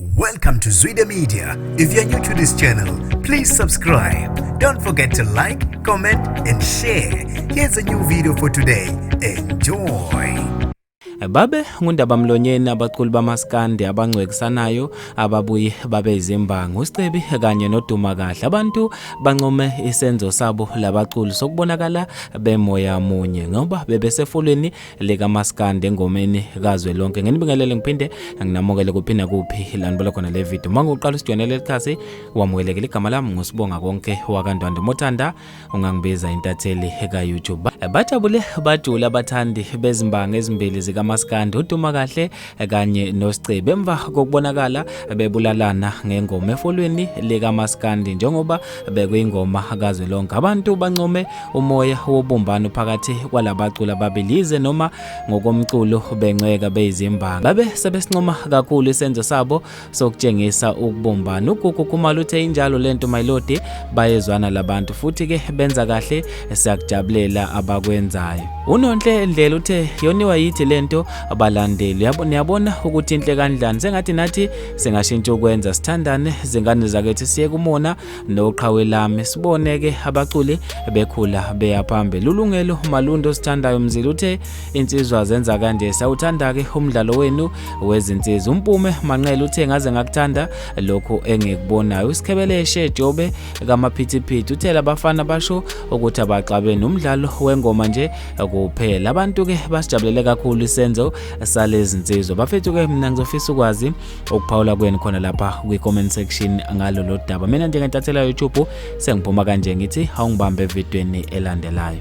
Welcome to Zwide Media. If you're new to this channel, please subscribe. Don't forget to like, comment and share. Here's a new video for today. Enjoy. Babe ngundaba mlonyeni abaculi bamaskandi abangcwekisanayo ababuyi babe izimbangi uScebi kanye noduma kahle abantu bancome isenzo sabo labaculi sokubonakala bemoya munye ngoba bebesefulweni likamaskandi engomeni kazwe lonke nginibingelele ngiphinde nginamukele kuphi nakuphi lanibala khona le video uma ngiwuqala usijonele likhasi wamukelekile igama lami ngusibonga konke wakandwande mothanda ungangibiza intatheli ka-youtube bajabule bajule abathandi bezimbanga ezimbili zikamaskandi uduma kahle kanye noScebe emva kokubonakala bebulalana ngengoma efolweni likaMaskandi njengoba bekuyingoma kazwelonke abantu bancome umoya wobumbano phakathi kwalabaculi ababili yize noma ngokomculo bencweka beyizimbanga babe sebesincoma kakhulu isenzo sabo sokutshengisa ukubumbana ugugu khumalo uthe injalo lento my lord bayezwana labantu futhi ke benza kahle siyakujabulela abakwenzayo unonhle ndlela uthe yoniwa yithi lento abalandeli niyabona ukuthi inhle kanjani sengathi nathi singashintsha ukwenza sithandane zingane zakethu siye kumona noqhawe lami siboneke abaculi bekhula beya phambili ulungelo malundo sithandayo mzila uthe insizwa zenza kanje sawuthanda-ke umdlalo wenu wezinsizwa umpume manqele uthe ngaze ngakuthanda lokhu engikubonayo usikhebeleshe jobe kamaphithiphithi uthe labafana basho ukuthi abaxabeni umdlalo wengoma nje kuphela abantu-ke basijabulele kakhulu isenzo salezinsizwa bafethu-ke mina ngizofisa ukwazi okuphawula kweni khona lapha kwi-comment section ngalo lo daba mina njengentathelwa youtube sengiphuma kanje ngithi awungibambe evidweni elandelayo